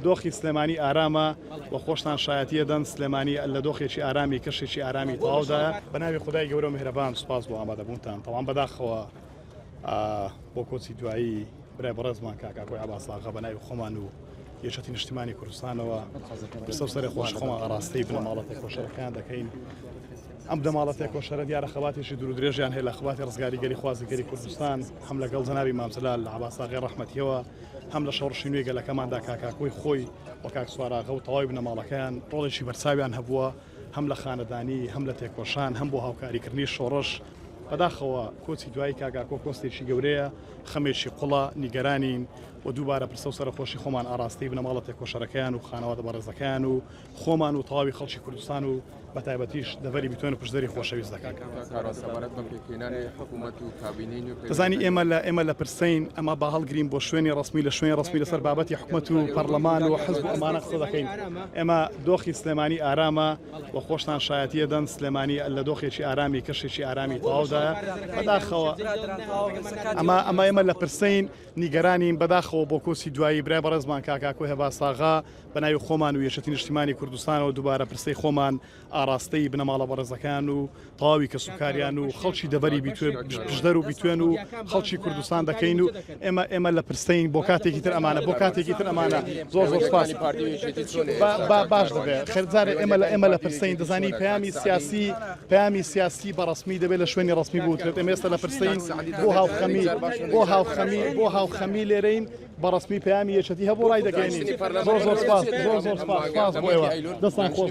دۆخی سلێمانی ئارامە و خۆشتان شایەتی ئەدەن سلێمانی لە دۆخێکی ئارامی کەشێکی ئارامی تەواودایە بە ناوی خدای گەورە و میهرەبان سوپاس بۆ ئامادەبوونتان تەوام بەداخەوە بۆ کۆچی دوایی برای بەڕێزمان کاک ئاکۆی عەباس ئاغا بە ناوی خۆمان و یەکێتی نیشتیمانی کوردستانەوە پرسە سەری خۆش خۆمان ئاراستەی بنەماڵەتی خۆشەکان دەکەین ئەم دەماڵەتی کۆشەرە دیارە خەباتێکی دوور درێژیان هەیە لە خباتی ڕزگاریگەری خوازیگەری کوردستان هەم لەگەڵ جەناوی مامزلال لە عباساغی ڕحمەتیەوە هەم لە شۆڕشی نوێی گەلەکەماندا کاکاکۆی خۆی و کاک سواراغە و تەواوی بنەماڵەکەیان ڕۆڵێکی بەرچاویان هەبووە هەم لە خانەدانی هەم لە تێکۆشان هەم بۆ هاوکاریکردنی شۆڕش بەداخەوە کۆچی دوایی کاکاکۆ کۆستێکی گەورەیە خەمێکی قوڵە نیگەرانین و دووبارە پرسە و سەرخۆشی خۆمان ئاراستەی بنەماڵە تێکۆشەرەکەیان و خانەوادە بەڕێزەکەیان و خۆمان و تەواوی خەڵکی کوردستان و بە تایبەتیش دەڤەری بیتۆن و پشدەری خۆشەویست دەکەین دەزانی ئێمە لە ئێمە لە پرسین ئەمە با هەڵگرین بۆ شوێنی ڕسمی لە شوێنی ڕسمی لەسەر بابەتی حکومەت و پەرلەمان و حزب و ئەمانە قسە دەکەین ئێمە دۆخی سلێمانی ئارامە و خۆشتان شایەتە دەن سلێمانی لە دۆخێکی ئارامی کەشێکی ئارامی تەواودا بەداخەوە ئەمە ئەمە ئێمە لە پرسین نیگەرانین بەداخەوە بۆ کۆسی دوایی برای بەڕێزمان کاکاکۆ هێباساغا بە ناوی خۆمان و یەکێتی نیشتیمانی کوردستانەوە دووبارە پرسەی خۆمان ئاڕاستەی بنەماڵە بەڕێزەکان و تەواوی کەسوکاریان و خەڵکی دەڤەری بیتوێ پشدەر و بیتوێن و خەڵکی کوردستان دەکەین و ئێمە ئێمە لە پرسەین بۆ کاتێکی تر ئەمانە بۆ کاتێکی تر ئەمانە زۆر زۆر سپاس باش دەبێت خەرزارە ئێمە لە ئێمە لە پرسەین دەزانی پەیامی سیاسی پەیامی سیاسی بەڕسمی دەبێت لە شوێنی ڕسمی بوترێت ئێمێستا لە پرسەین بۆ هاوخەمی بۆ هاوخەمی بۆ هاوخەمی لێرەین بەڕەسمی پەیامی یەکێتی هەبوو ڕای دەگەیەنین زۆر زۆر سپاس زۆر زۆر سپاس سپاس بۆ ئێوە دەستان خۆش